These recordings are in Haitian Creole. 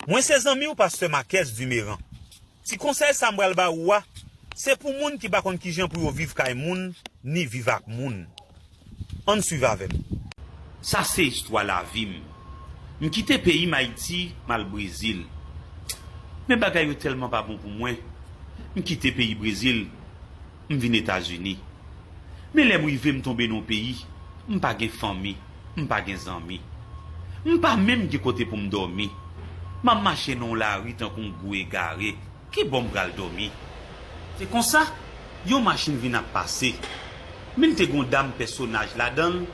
Mwen se zanmiw pastè Makès Dumeran. Ti konsèy sa m pral ba ou a, se pou moun ki pa konn kijan pou yo viv kay moun ni viv ak moun. Ann swiv avè m. Sa se istwa lavi m. M kite peyi m Ayiti m al Brezil. Men bagay yo tèlman pa bon pou mwen, m kite peyi Brezil M vin Etazini. Men lè m rive m tonbe nan yon peyi, m pa gen fanmi, m pa gen zanmi. M pa menm gen kote pou m dòmi. M ap mache nan yon lari tankou yon gwo egare, ki bò m pral dòmi? Se konsa, yon machin vin ap pase. Min te gen yon dam pèsonaj ladan l,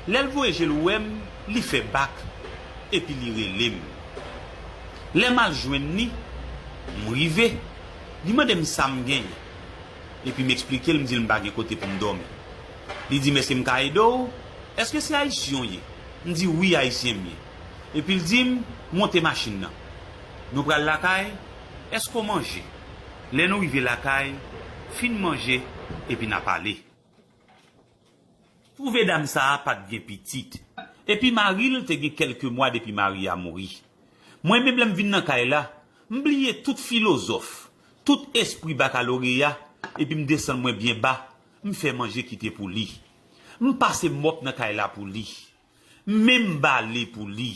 lè l voye je l wè m, li fè bak, epi li rele m. Lè m al jwenn li, m rive, li mande m sa m genyen. epi m eksplike l m di l m pa gen kote pou m dòmi. Li di m èske m ka ede w? Èske se Ayisyen w ye? M di wi Ayisyen m ye. Epi l di m monte machin nan. Nou pral lakay, èske w manje? Lè nou rive lakay, fin manje epi n ap ale. Twouve dam sa a pa t gen pitit, epi mari l te gen kèlke mwa depi mari a mouri. Mwen menm lè m vin nan kay la, m bliye tout filozòf, tout espri bakaloreya, epi m desann mwen byen ba, m fè manje kite pou li. M pase mòp nan kay la pou li. M menm bale pou li.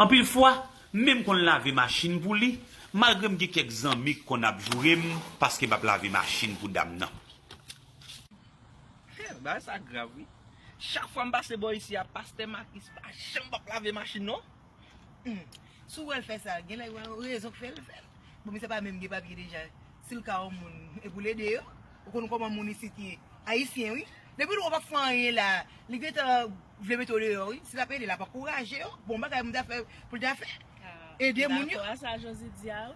Anpil fwa, m menm konn lave machin pou li, malgre m gen kèk zanmi k konn ap joure m paske m ap lave machin pou dam nan. He, bagay sa grav wi. Chak fwa m pase bò isi a, pastè Makis pa janm p ap lave machin non. Humm si w wè l fè sa gen lè gen yon rezon k fè l fè l bon misye pa menm gen papye deja si l ka yon moun e pou l ede yo ou konn kòman moun isit ye ayisyen wi depi l wè w pap fè anyen la a li gentan vle mete w deyò wi si l ap ede l ap ankouraje yo bon bagay moun ta fè pou l ta fè ede moun yo. M dakò a sa Jozit di a wi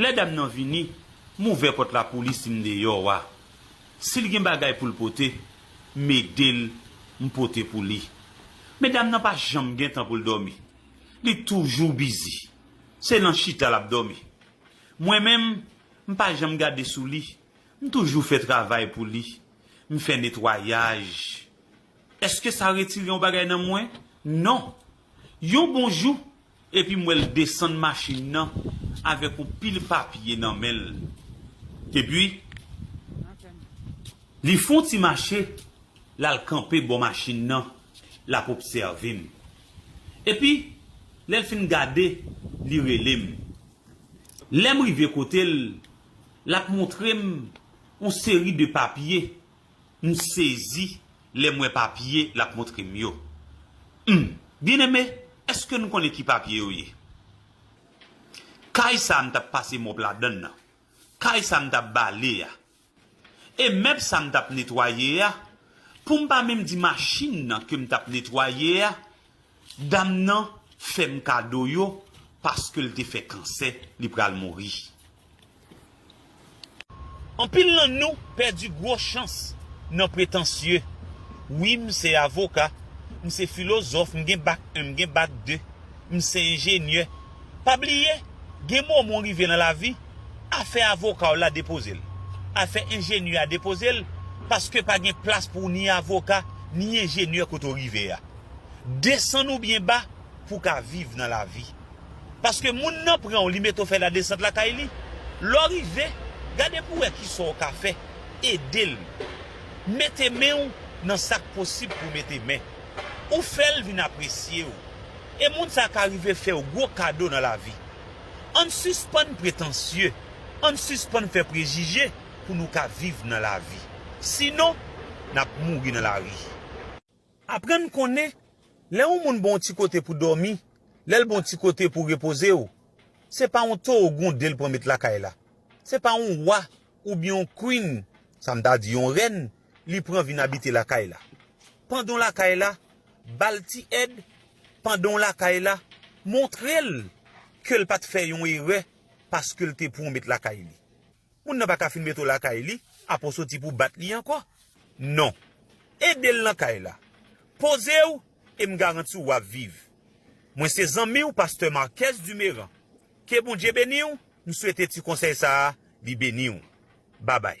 Lè dam nan vini, m ouvè pòt la pou li si m deyò a. Si l gen bagay pou l pote, m ede l, m pote pou li. Men dam nan pa janm gen tan pou l dòmi. Li toujou bizi. Se nan chita l ap dòmi. Mwen menm, m pa janm gade sou li. M toujou fè travay pou li. M fè netwayaj. Èske sa retire yon bagay nan mwen? Non. Yon bon jou, Epi m wè l desann machin nan avèk yon pil papye nan men l. Epi, li fon ti mache, l al kanpe bò machin nan, l ap obsève m. Epi, lè l fin gade, li rele m. Lè m rive kote l, l ap montre m yon seri de papye M sezi lè m wè papye l ap montre m yo. Humm. Byeneme, èske nou konnen ki papye yo ye? Kay sa a m t ap pase mòp ladan l lan. Kay sa a m t ap bale a. E mèb sa a m t ap netwaye a. Pou m pa menm di machin nan ke m t ap netwaye a, Dam nan fem kado yo paske l te fe kansè li pral mouri. Anpil nan nou pèdi gwo chans nan pretansye wi m se avoka m se filozòf m gen bak 1 m gen bak 2 m se enjenyè pa bliye gen moman w rive nan lavi afè avoka w la depoze l afè enjenyè a depoze l paske pa gen plas pou ni avoka ni enjenyè kote w rive a. Desann ou byen ba pou w ka viv nan lavi. Paske moun nan pran w li mete w fè ladesant lakay li. Lè w rive, gade pou w wè ki sa w ka fè, ede l. Mete men w nan sa k posib pou w mete men. Ou fè l vin apresye w. E moun sa ka rive fè w gwo kado nan lavi. Ann sispann pretansye, ann sispann fè prejije pou nou ka viv nan lavi. Sinon, n ap mouri nan lari. Aprann konnen lè yon moun ba w ti kote pou dòmi, lè l ba w ti kote pou repoze w, se pa yon towo gwonde l pran met lakay la, se pa yon wa oubyen yon queen, sa m ta di yon rèn, li pran vin abite lakay la. Pandan w lakay la, ba l ti èd, pandan w lakay la, montre l ke l pa t fè yon erè paske l te pran w met lakay li. Moun nan pa ka fin mete w lakay li apre w soti pou w bat li ankò. Non. Ede l nan kay la. Poze w e m garanti w w ap viv. Mwen se zanmi w pastè Marques Dumerant. Ke Bondye beni w, m swete ti konsèy sa a li beni w. Babay.